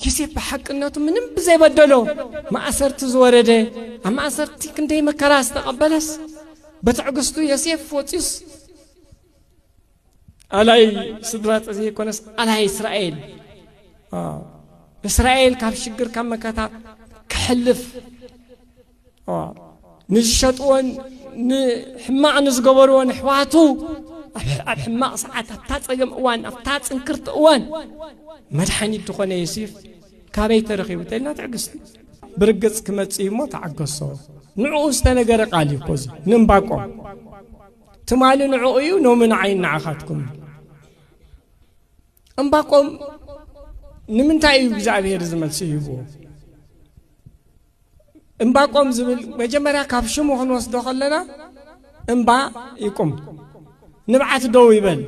ዮሴፍ ብሓቅነቱ ምንም ብዘይበደሎ ማእሰርቲ ዝወረደ ኣብ ማእሰርቲ ክንደይ መከራ ዝተቐበለስ ብትዕግስቱ ዮሴፍ ወፂኡስ ኣላይ ስድራ ዘይኮነስ ኣላይ እስራኤል እስራኤል ካብ ሽግር ካብ መከታ ክሕልፍ ንዝሸጥዎን ንሕማቕ ንዝገበርዎን ኣሕዋቱ ኣብ ሕማቕ ሰዓት ኣብታ ጸገም እዋን ኣብታ ጽንክርቲ እዋን መድሓኒት ዝኾነ የሲፍ ካበይ ተረኺቡ ተልና ትዕግስቲ ብርግጽ ክመጽእ እሞ ተዓገሶ ንዕኡ ዝተነገረ ቃል እዩ ኮዚ ንእምባቆም ትማሊ ንዕኡ እዩ ኖሚ ንዓይ ንዓኻትኩም እዩ እምባቆም ንምንታይ እዩ እግዚኣብሄር ዝመልሲ ይህብዎ እምባቆም ዝብል መጀመርያ ካብ ሽሙ ክንወስዶ ከለና እምባ ይቁም ንብዓት ደው ይበል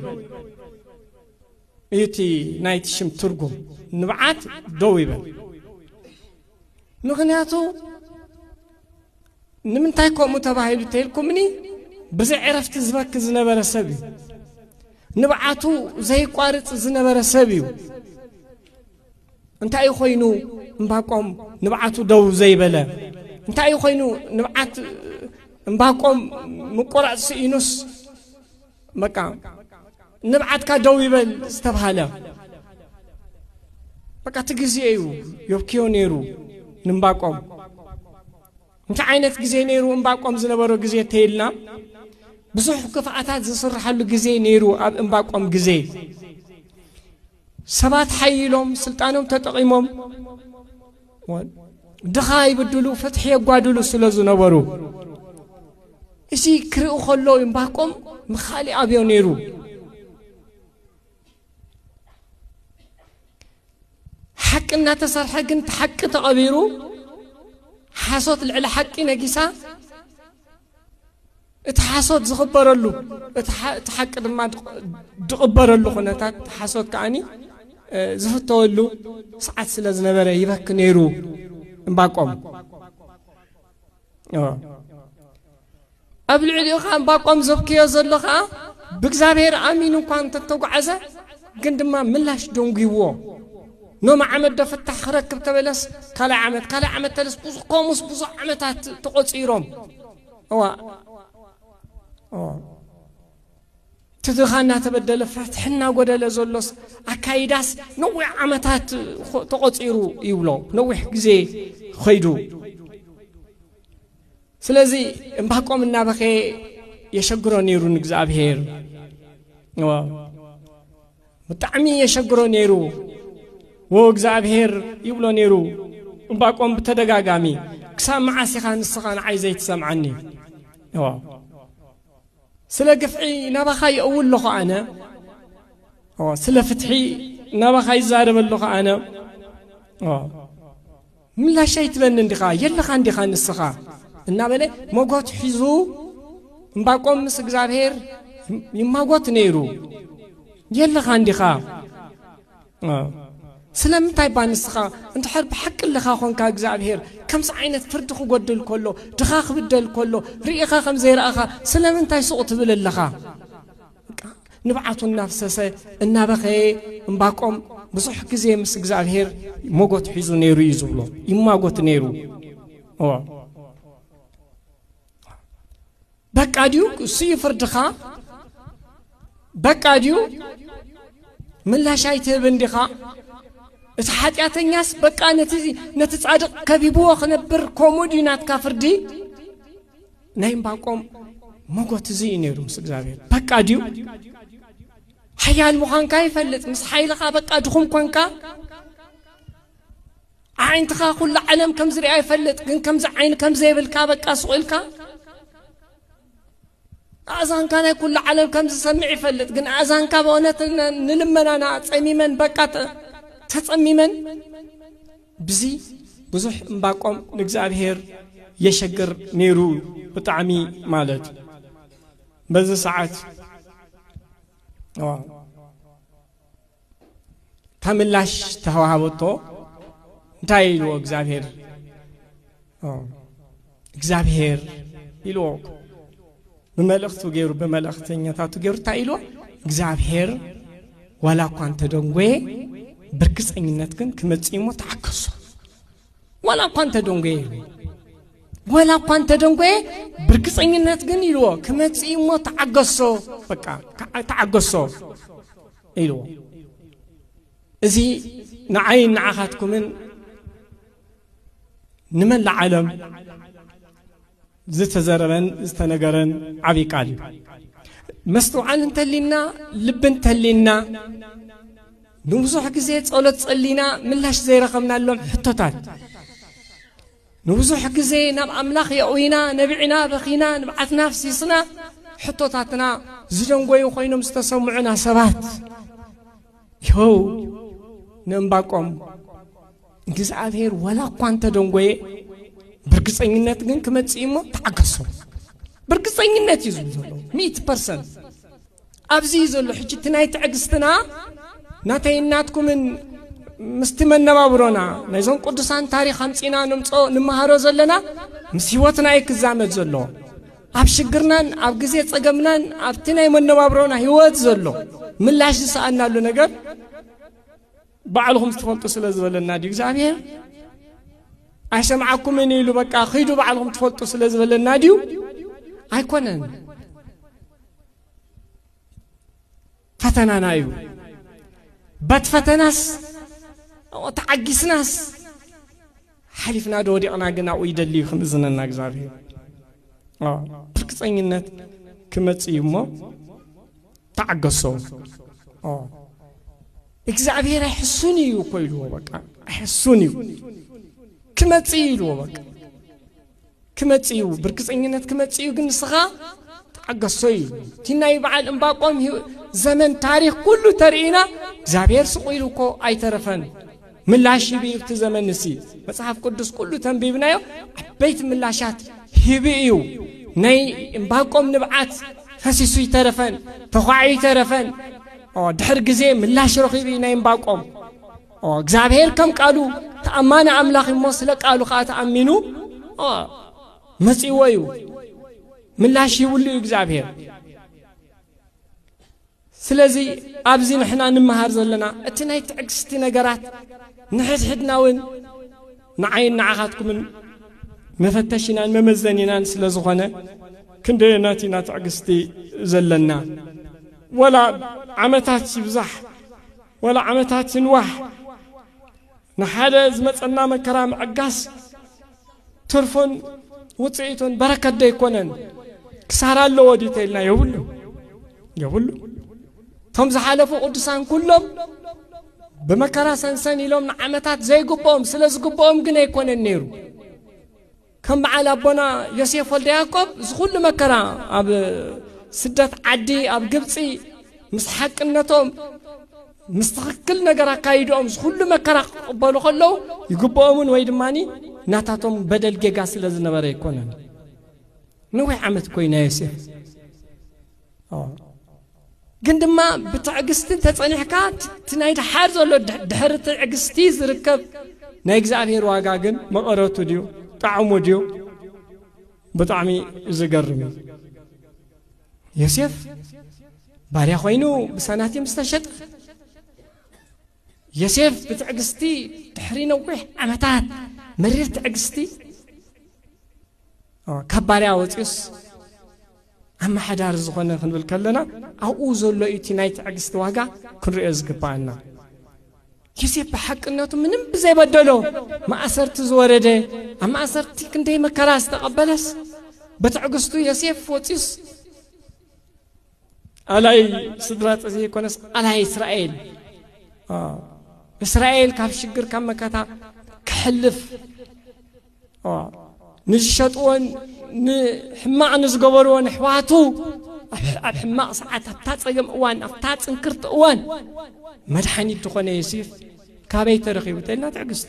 እዩ እቲ ናይቲ ሽም ትርጉም ንብዓት ደው ይበል ምክንያቱ ንምንታይ ከምኡ ተባሂሉ ተይልኩምኒ ብዘይ ዕረፍቲ ዝበክ ዝነበረ ሰብ እዩ ንብዓቱ ዘይቋርፅ ዝነበረ ሰብ እዩ እንታይ እዩ ኮይኑ እምባቆም ንብዓቱ ደው ዘይበለ? እንታይ እዩ ኮይኑ ንብዓት እምባቆም ምቁራፅ ስኢኑስ በቃ ንብዓትካ ደው ይበል ዝተብሃለ በቃ እቲ ግዜ እዩ ዮብክዮ ነይሩ ንእምባቆም እንታይ ዓይነት ግዜ ነይሩ እምባቆም ዝነበሮ ግዜ እተይልና ብዙሕ ክፍኣታት ዝስርሓሉ ግዜ ነይሩ ኣብ እምባቆም ግዜ ሰባት ሓይሎም ስልጣኖም ተጠቒሞም ድኻ ይብድሉ ፍትሒ የጓድሉ ስለ ዝነበሩ እዚ ክርኢ ከሎ እምባቆም ንካሊእ ኣብዮ ነይሩ ሓቂ እናተሰርሐ ግን እቲ ሓቂ ተቐቢሩ ሓሶት ልዕሊ ሓቂ ነጊሳ እቲ ሓሶት ዝቕበረሉ እቲ ሓቂ ድማ ዝቕበረሉ ኩነታት ሓሶት ከዓኒ ዝፍተወሉ ሰዓት ስለ ዝነበረ ይበክ ነይሩ እምባቆም ኣብ ልዕሊኡ ከዓ እምባቆም ዘብክዮ ዘሎ ከዓ ብእግዚኣብሔር ኣሚኑ እኳ እንተተጓዓዘ ግን ድማ ምላሽ ደንጒዎ ኖሚ ዓመት ዶ ፍታሕ ክረክብ ተበለስ ካልኣይ ዓመት ካልኣይ ዓመት ተለስ ብዙ ኮሙስ ብዙ ዓመታት ተቖፂሮም እዋእ እቲ ድኻ እናተበደለ ፍትሒ እናጎደለ ዘሎስ ኣካይዳስ ነዊሕ ዓመታት ተቖፂሩ ይብሎ ነዊሕ ግዜ ኸይዱ ስለዚ እምባቆም እናበኸየ የሸግሮ ነይሩ ንእግዚኣብሄር ብጣዕሚ የሸግሮ ነይሩ ወ እግዚኣብሄር ይብሎ ነይሩ እምባቆም ብተደጋጋሚ ክሳብ መዓስ ኢኻ ንስኻ ንዓይ ዘይትሰምዓኒ ዋ ስለ ግፍዒ ናባኻ ይእው ኣለኹ ኣነ ስለ ፍትሒ ናባኻ ይዛረበ ኣለኹ ኣነ ምላሽ ኣይትበንን ዲኻ? የለኻን ዲኻ ንስኻ? እናበለ መጎት ሒዙ እምባቆም ምስ እግዚኣብሔር ይማጎት ነይሩ። የለኻን ዲኻ? ስለምንታይ እባ ንስኻ እንድሕር ብሓቂ ኣለኻ ኾንካ እግዚኣብሔር ከምዚ ዓይነት ፍርዲ ክጎድል ከሎ ድኻ ክብደል ከሎ ርኢኻ ከም ዘይረኣኻ ስለምንታይ ሱቕ ትብል ኣለኻ? ንብዓቱ እናፍሰሰ እናበኸየ እምባቆም ብዙሕ ግዜ ምስ እግዚኣብሄር ሞጎት ሒዙ ነይሩ እዩ ዝብሎ ይማጎት ነይሩ በቃ ድዩ እሱዩ ፍርድኻ በቃ ድዩ ምላሽ ኣይትህብ እንዲኻ እቲ ሓጢኣተኛስ በቃ ነቲ ጻድቕ ከቢብዎ ክነብር ከምኡ ድዩ ናትካ ፍርዲ ናይ እምባቆም መጎት እዚ እዩ ነይሩ ምስ እግዚኣብሔር በቃ ድዩ ሓያል ምዃንካ ይፈልጥ ምስ ሓይልኻ በቃ ድኹም ኮንካ ኣዒንትኻ ኩሉ ዓለም ከም ዝርኣ ይፈልጥ ግን ከምዚ ዓይኒ ከም ዘይብልካ በቃ ስቑኢልካ ኣእዛንካ ናይ ኩሉ ዓለም ከም ዝሰምዕ ይፈልጥ ግን ኣእዛንካ ብእውነት ንልመናና ጸሚመን በቃ ተጸሚመን ብዚ ብዙሕ እምባቆም ንእግዚኣብሔር የሸግር ነይሩ ብጣዕሚ ማለት እዩ በዚ ሰዓት እታ ምላሽ ተዋሃበቶ እንታይ ኢልዎ እግዚኣብሔር እግዚኣብሄር ኢልዎ ብመልእኽቱ ገይሩ ብመልእኽተኛታቱ ገይሩ እንታይ ኢልዎ እግዚኣብሄር ዋላ እኳ እንተደንጎየ ብርግፀኝነት ግን ክመፅእ እሞ ተዓከሱ ዋላ እኳ እንተደንጎየ ኢልዎ ዋላ እኳ እንተደንጎየ ብርግፀኝነት ግን ኢልዎ ክመፅእ እሞ ተዓገሶ በቃ ተዓገሶ ኢልዎ እዚ ንዓይን ንዓኻትኩምን ንመላእ ዓለም ዝተዘረበን ዝተነገረን ዓብይ ቃል እዩ መስትውዓል እንተሊና ልቢ እንተሊና ንብዙሕ ግዜ ጸሎት ጸሊና ምላሽ ዘይረኸብናሎም ሕቶታት ንብዙሕ ግዜ ናብ ኣምላኽ የእዊና ነቢዕና በኺና ንብዓትና ፍሲስና ሕቶታትና ዝደንጎዩ ኮይኖም ዝተሰምዑና ሰባት ይኸው ንእምባቆም እግዚኣብሔር ወላ እኳ እንተደንጎየ ብርግፀኝነት ግን ክመፅእ እሞ ተዓገሶ ብርግፀኝነት እዩ ዝብል ዘሎ ሚእቲ ፐርሰንት ኣብዚ እዩ ዘሎ ሕጂ እቲ ናይ ትዕግስትና ናተይ እናትኩምን ምስቲ መነባብሮና ናይዞም ቅዱሳን ታሪክ ኣምፂና ንምፆ ንመሃሮ ዘለና ምስ ሂወትና እዩ ክዛመድ ዘሎ ኣብ ሽግርናን ኣብ ግዜ ፀገምናን ኣብቲ ናይ መነባብሮና ሂወት ዘሎ ምላሽ ዝሰኣናሉ ነገር ባዕሉ ኹም ትፈልጡ ስለ ዝበለና ድዩ እግዚኣብሔር ኣይሰምዓኩምን ኢሉ በቃ ኺዱ ባዕልኹም ትፈልጡ ስለ ዝበለና ድዩ ኣይኮነን ፈተናና እዩ በት ፈተናስ ተዓጊስናስ ሓሊፍና ዶ ወዲቕና ግን ኣብኡ ይደሊ እዩ ክምእዝነና እግዚኣብሄር ብርግፀኝነት ክመፅ እዩ እሞ ተዓገሶ እግዚኣብሄር ኣይሕሱን እዩ እኮ ኢልዎ በቃ ኣይሕሱን እዩ ክመፅ እዩ ኢልዎ በቃ ክመጽእ እዩ ብርግጸኝነት ክመጽእ እዩ ግን ንስኻ ተዓገሶ እዩ እቲ ናይ በዓል እምባቆም ዘመን ታሪክ ኩሉ ተርእና እግዚኣብሔር ስቁ ኢሉ እኮ ኣይተረፈን ምላሽ ሂቢ እዩ እቲ ዘመን እሲ መጽሓፍ ቅዱስ ኩሉ ተንቢብናዮ ዓበይቲ ምላሻት ሂቢ እዩ ናይ እምባቆም ንብዓት ፈሲሱ ይተረፈን ተኳዒ ይተረፈን ድሕር ግዜ ምላሽ ረኺቡ እዩ ናይ እምባቆም እግዚኣብሔር ከም ቃሉ ተኣማኒ ኣምላኽ እሞ ስለ ቃሉ ከዓ ተኣሚኑ መጺእዎ እዩ ምላሽ ይብሉ እዩ እግዚኣብሔር ስለዚ ኣብዚ ንሕና ንመሃር ዘለና እቲ ናይ ትዕግስቲ ነገራት ንሕድሕድና እውን ንዓይን ንዓኻትኩምን መፈተሽናን መመዘኒናን ስለ ዝኾነ ክንደየናት ኢና ትዕግስቲ ዘለና ወላ ዓመታት ይብዛሕ ወላ ዓመታት ይንዋሕ ንሓደ ዝመጸና መከራ ምዕጋስ ትርፉን ውጽኢቱን በረከት ዶ ኣይኮነን? ክሳራ ኣለዎ ድዩ ተኢልና የብሉ የብሉ። እቶም ዝሓለፉ ቅዱሳን ኩሎም ብመከራ ሰንሰን ኢሎም ንዓመታት ዘይግብኦም ስለ ዝግብኦም ግን ኣይኮነን ነይሩ። ከም በዓል ኣቦና ዮሴፍ ወልደ ያዕቆብ እዚ ኩሉ መከራ ኣብ ስደት ዓዲ ኣብ ግብፂ ምስ ሓቅነቶም ምስ ትኽክል ነገር ኣካይድኦም እዚ ኩሉ መከራ ክቕበሉ ከለዉ ይግብኦምን ወይ ድማ ናታቶም በደል ጌጋ ስለ ዝነበረ ኣይኮነን ነዊሕ ዓመት ኮይና ዮሴፍ ግን ድማ ብትዕግስቲ እንተጸኒሕካ እቲ ናይ ድሓር ዘሎ ድሕሪ ትዕግስቲ ዝርከብ ናይ እግዚኣብሔር ዋጋ ግን መቐረቱ ድዩ ጣዕሙ ድዩ ብጣዕሚ ዝገርም እዩ ዮሴፍ ባርያ ኮይኑ ብሳናቲም ዝተሸጠ ዮሴፍ ብትዕግስቲ ድሕሪ ነዊሕ ዓመታት መሪር ትዕግስቲ ካብ ባርያ ወጺኡስ ኣመሓዳሪ ዝኾነ ክንብል ከለና ኣብኡ ዘሎ እዩ እቲ ናይ ትዕግስቲ ዋጋ ክንሪኦ ዝግባኣና ዮሴፍ ብሓቅነቱ ምንም ብዘይበደሎ ማእሰርቲ ዝወረደ ኣብ ማእሰርቲ ክንደይ መከራ ዝተቐበለስ ብትዕግስቱ ዮሴፍ ወፂኡስ ኣላይ ስድራ ዘይኮነስ ኣላይ እስራኤል እስራኤል ካብ ሽግር ካብ መከታ ክሕልፍ ንዝሸጥዎን ንሕማቕ ንዝገበርዎን ኣሕዋቱ ኣብ ሕማቕ ሰዓት ኣብታ ጸገም እዋን ኣብታ ጽንክርቲ እዋን መድሓኒት ዝኾነ የሲፍ ካበይ ተረኺቡ ተልና ትዕግስቲ